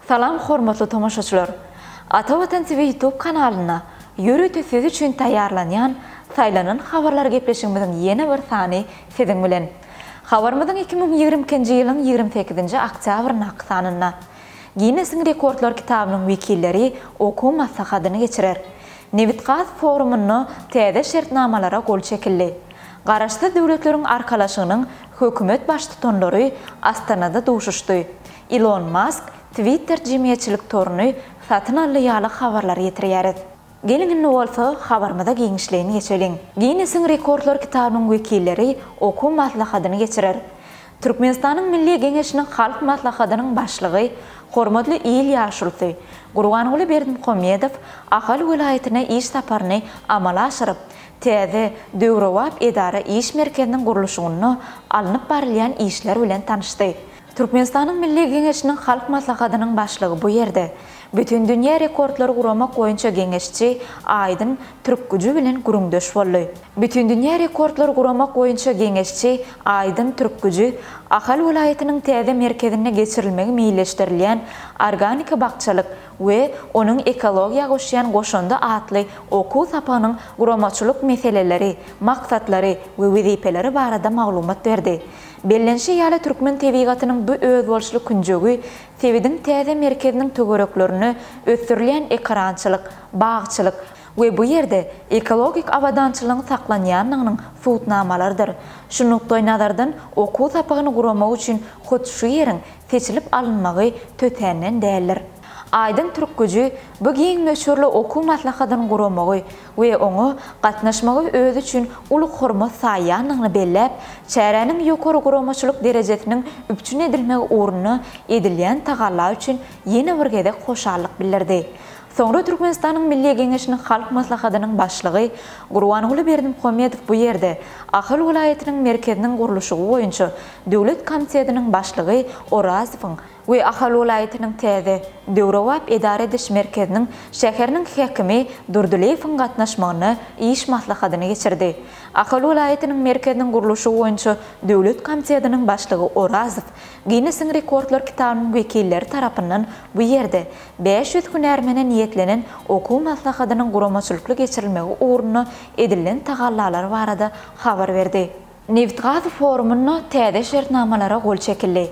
Salam hormatly tomaşaçylar! Ata Watan TV YouTube kanalynda ýörite siz üçin taýýarlanýan Saýlanan habarlar gepleşigimiziň ýene bir sany siziň bilen. Habarymyzyň iki müň ýigrimi ikinji ýylyň ýigrimi sekizinji oktýabryndaky sanynda Ginnesiň rekordlar kitabynyň wekilleri okuw maslahatyny geçirer. Nebitgaz forumynda täze şertnamalara gol çekildi. Garaşsyz Döwletleriň Arkalaşygynyň hökümet baştutanlary Astanada duşuşdy. Ilon Mask Twitter jemgyýetçilik toruny satyn aldy ýaly habarlary getirýäris. Geliň indi bolsa habarymyza giňişleýin geçeliň. Ginnesiň rekordlar kitabynyň wekilleri okuw maslahatyny geçirer. Türkmenistanyň Milli Geňeşiniň Halk Maslahatynyň Başlygy, hormatly il ýaşulysy Gurbanguly Berdimuhamedow Ahal welaýatyna iş saparyny amala aşyryp, täze, döwrebap edara iş merkeziniň gurluşygynda alnyp barylýan işler bilen tanyşdy. Türkmenistanyň Milli Geňeşiniň Halk Maslahatynyň Başlygy bu ýerde Bütindünýä rekordlary guramak boýunça geňeşçi Aýdyn Türkgüji bilen gürrüňdeş boldy. Bütindünýä rekordlary guramak boýunça geňeşçi Aýdyn Türkgüji Ahal welaýatynyň täze merkezinde geçirilmegi meýilleşdirilýän Organika bakjalyk we onuň ekologiýa goşýan goşandy atly okuw sapagynyň guramaçylyk meseleleri, maksatlary we wezipeleri barada maglumat berdi. Bellenşi ýaly, türkmen tebigatynyň bu özboluşly künjegi sebitiň täze merkeziniň töwereklerinde ösdürilýän ekerançylyk, bagçylyk we bu ýerde ekologik abadançylygyň saklanýandygynyň subutnamalarydyr. Şu nukdaýnazardan okuw sapagyny guramak üçin hut şu ýeriň seçilip alynmagy tötänden däldir. Aýdyň türk güji bu giň möçberli okuw maslahatyny guramagy, we oňa gatnaşmagy özi üçin uly hormat saýýandygyny belläp, çäräniň ýokary guramaçylyk derejesiniň üpjün edilmegi ugrunda edilýän tagalla üçin ýene bir gezek hoşallyk bildirdi. Soňra Türkmenistanyň Milli Geňeşiniň Halk Maslahatynyň Başlygy Gurbanguly Berdimuhamedow bu ýerde Ahal welaýatynyň merkeziniň gurluşygy boýunça döwlet komitetiniň başlygy Orazowyň we Ahal welaýatynyň täze, döwrebap edara ediş merkeziniň şäheriniň häkimi Durdylyýewiň gatnaşmagynda iş maslahatyny geçirdi. Ahal welaýatynyň merkeziniň gurluşygy boýunça döwlet komitetiniň başlygy Orazow Ginnesiň rekordlar kitabynyň wekilleri tarapyndan bu ýerde bäş ýüz hünärmene niýetlenen okuw maslahatynyň guramaçylykly geçirilmegi ugrunda edilen tagallalary barada habar berdi. Nebit-gaz forumynda täze şertnamalara gol çekildi.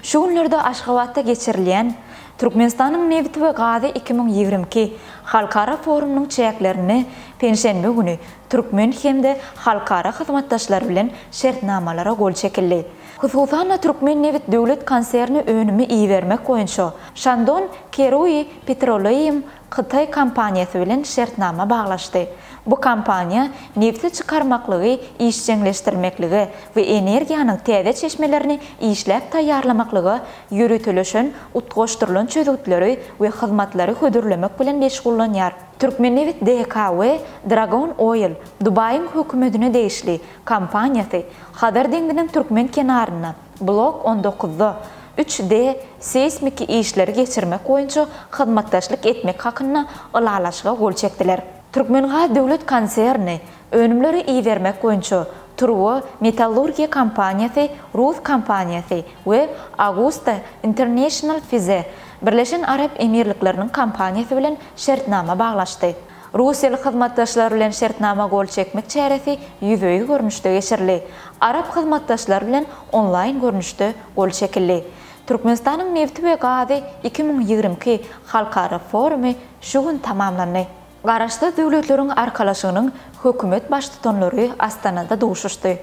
Şu günlerde Aşgabatda geçirilýän Türkmenistanyň nebiti we gazy iki müň ýigrimi iki halkara forumynyň çäklerinde penşenbe güni türkmen hem-de halkara hyzmatdaşlary bilen şertnamalara gol çekildi. Hususan-da, Türkmennebit döwlet konserni önümi ibermek boýunça Shandong Kerui Petroleum hytaý kompaniýasy bilen şertnama baglaşdy. Bu kompaniýa nebti çykarmaklygy işjeňleşdirmeklige we energiýanyň täze çeşmelerini işläp taýýarlamaklyga ýöriteleşen utgaşdyrylan çözgütleri we hyzmatlary hödürlemek bilen meşgullanýar. Türkmennebit DK we Dragon Oil, Dubaýyň hökümetine degişli, kompaniýasy, Hazar deňziniň türkmen kenarynda, Blok on dokuzda üç D seýsmiki işleri geçirmek boýunça hyzmatdaşlyk etmek hakynda ylalaşyga gol çekdiler. Türkmengaz döwlet konserni önümleri ibermek boýunça Turbo Metallurgiýa kompaniýasy rus kompaniýasy we Agusta International Fize Birleşen Arap Emirlikleriniň kompaniýasy bilen şertnama baglaşdy. Russiýaly hyzmatdaşlar bilen şertnama gol çekmek çäresi ýüzbe-ýüz görnüşde geçirildi. Arap hyzmatdaşlar bilen onlaýn görnüşde gol çekildi. Türkmenistanyň nebti we gazy iki müň ýigrimi iki halkara forumy şu gün tamamlandy. Garaşsyz Döwletleriň Arkalaşygynyň hökümet baştutanlary Astanada duşuşdy.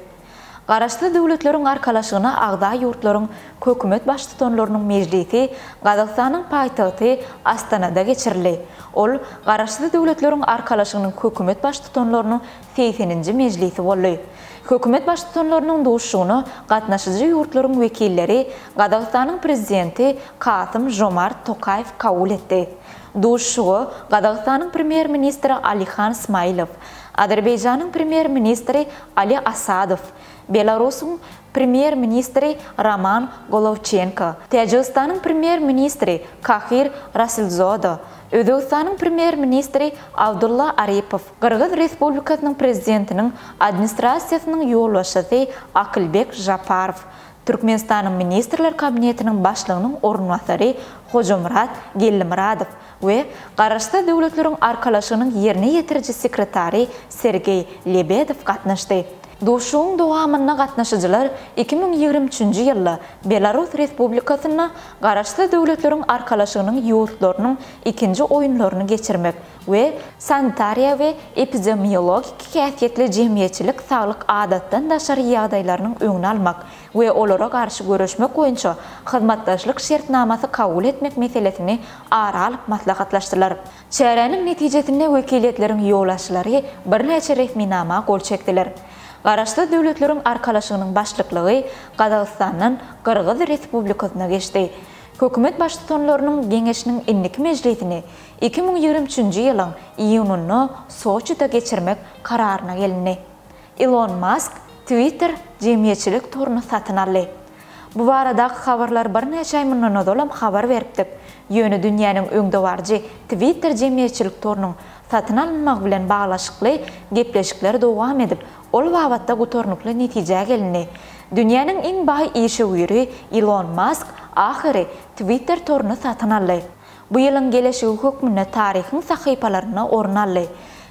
Garaşsyz Döwletleriň Arkalaşygyna agza ýurtlaryň Hökümet Baştutanlarynyň mejlisi Gazagystanyň paýtagty Astanada geçirildi. Ol Garaşsyz Döwletleriň Arkalaşygynyň Hökümet Baştutanlarynyň segseninji mejlisi boldy. Hökümet Baştutanlarynyň duşuşygyna gatnaşyjy ýurtlaryň wekilleri Gazagystanyň Prezidenti Kasym-Žomart Tokaýew kabul etdi. Duşuşyga Gazagystanyň Premýer-ministri Alihan Smailow, Azerbaýjanyň Premýer-ministri Ali Asadow, Belarusuň Premýer-ministri Roman Golowçenko, Täjigistanyň Premýer-ministri Kahir Rasulzoda, Özbegistanyň Premýer-ministri Abdulla Aripow, Gyrgyz Respublikasynyň Prezidentiniň Administrasiýasynyň ýolbaşçysy Akylbek Žaparow, Türkmenistanyň Ministrler Kabinetiniň Başlygynyň orunbasary Hojamyrat Gellimyradow we Garaşsyz Döwletleriň Arkalaşygynyň ýerine ýetiriji sekretary Sergeý Lebedew gatnaşdy. Duşuşygyň dowamynda gatnaşyjylar iki müň ýigrimi üçünji ýylda Belarus Respublikasynda Garaşsyz Döwletleriň Arkalaşygynyň ýurtlarynyň ikinji oýunlaryny geçirmek, we sanitariýa we epidemiologiki häsiýetli jemgyýetçilik saglyk adatdan daşary ýagdaýlarynyň öňüni almak we olara garşy göreşmek boýunça hyzmatdaşlyk şertnamasy kabul etmek meselesini ara alyp maslahatlaşdylar. Çäräniň netijesinde wekiliýetleriň ýolbaşçylary birnäçe resminama gol çekdiler. Garaşsyz Döwletleriň Arkalaşygynyň başlyklygy Gazagystandan Gyrgyz Respublikasyna geçdi. Hökümet baştutanlarynyň Geňeşiniň indiki mejlisini Iki müň ýigrimi üçünji ýylyň iýunynda Soçide geçirmek kararyna gelindi. Ilon Mask Twitter jemgyýetçilik toruny satyn aldy. Bu baradaky habarlary birnäçe aý mundan ozalam habar beripdik, ýöne dünýäniň öňdebaryjy Twitter jemgyýetçilik torunyň satyn alynmagy bilen baglaşykly gepleşikler dowam edip, ol babatda gutarnykly netijä gelindi. Dünýäniň iň baý işewüri Ilon Mask ahyry Twitter toruny satyn aldy. Bu ýylyň geleşigi hökmünde taryhyň sahypalarynda orun aldy.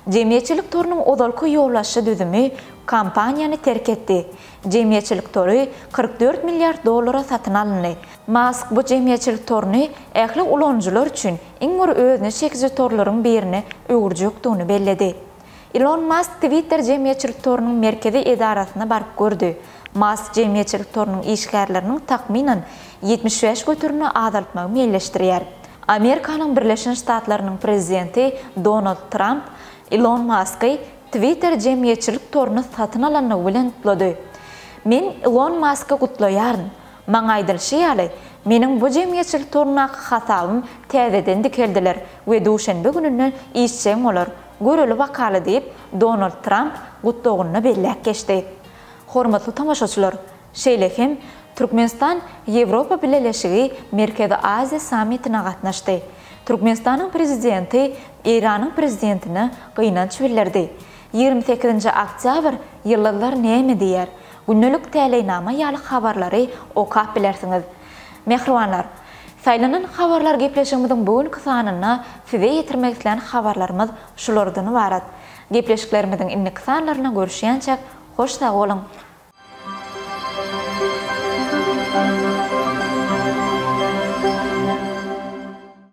Jemgyýetçilik torunyň ozalky ýolbaşçy düzümi kompaniýany terk etdi. Jemgyýetçilik tory kyrk dört milliard dollara satyn alyndy. Mask bu jemgyýetçilik toruny ähli ulanyjylar üçin iň bir özüne çekiji torlaryň birine öwürjekdigini belledi. Ilon Mask Twitter jemgyýetçilik torunyň merkezi edarasyna baryp gördi. Mask jemgyýetçilik torunyň işgärleriniň takmynan ýetmiş bäş göterimde azaltmagy meýilleşdirýär. Amerikanyň Birleşen Ştatlarynyň prezidenti Donald Tramp Ilon Masky Twitter jemgyýetçilik toruny satyn alandygy bilen gutlady. Men Ilon Masky gutlaýaryn. Maňa aýdylyşy ýaly, meniň bu jemgyýetçilik torundaky hasabym täzeden dikeldiler we duşenbe gününden işjeň bolar, Göreli-bakaly diýip, Donald Tramp gutlagyny belläp geçdi. Hormatly tomaşaçylar, şeýle hem Türkmenistan Ýewropa Bileleşigi Merkezi Aziýa sammitine gatnaşdy. Türkmenistanyň prezidenti Eýranyň prezidentine gynanç bildirdi. Ýigrimi sekizinji oktýabr ýyldyzlar näme diýýär? Gündelik täleýnama ýaly habarlary okap bilersiňiz. Mähribanlar! Saýlanan habarlar gepleşigimiziň bu günki sanynda size ýetirmek islän habarlarymyz şulardan ybarat. Gepleşiklerimiziň indiki sanlarynda görüşýänçäk, hoş sag boluň!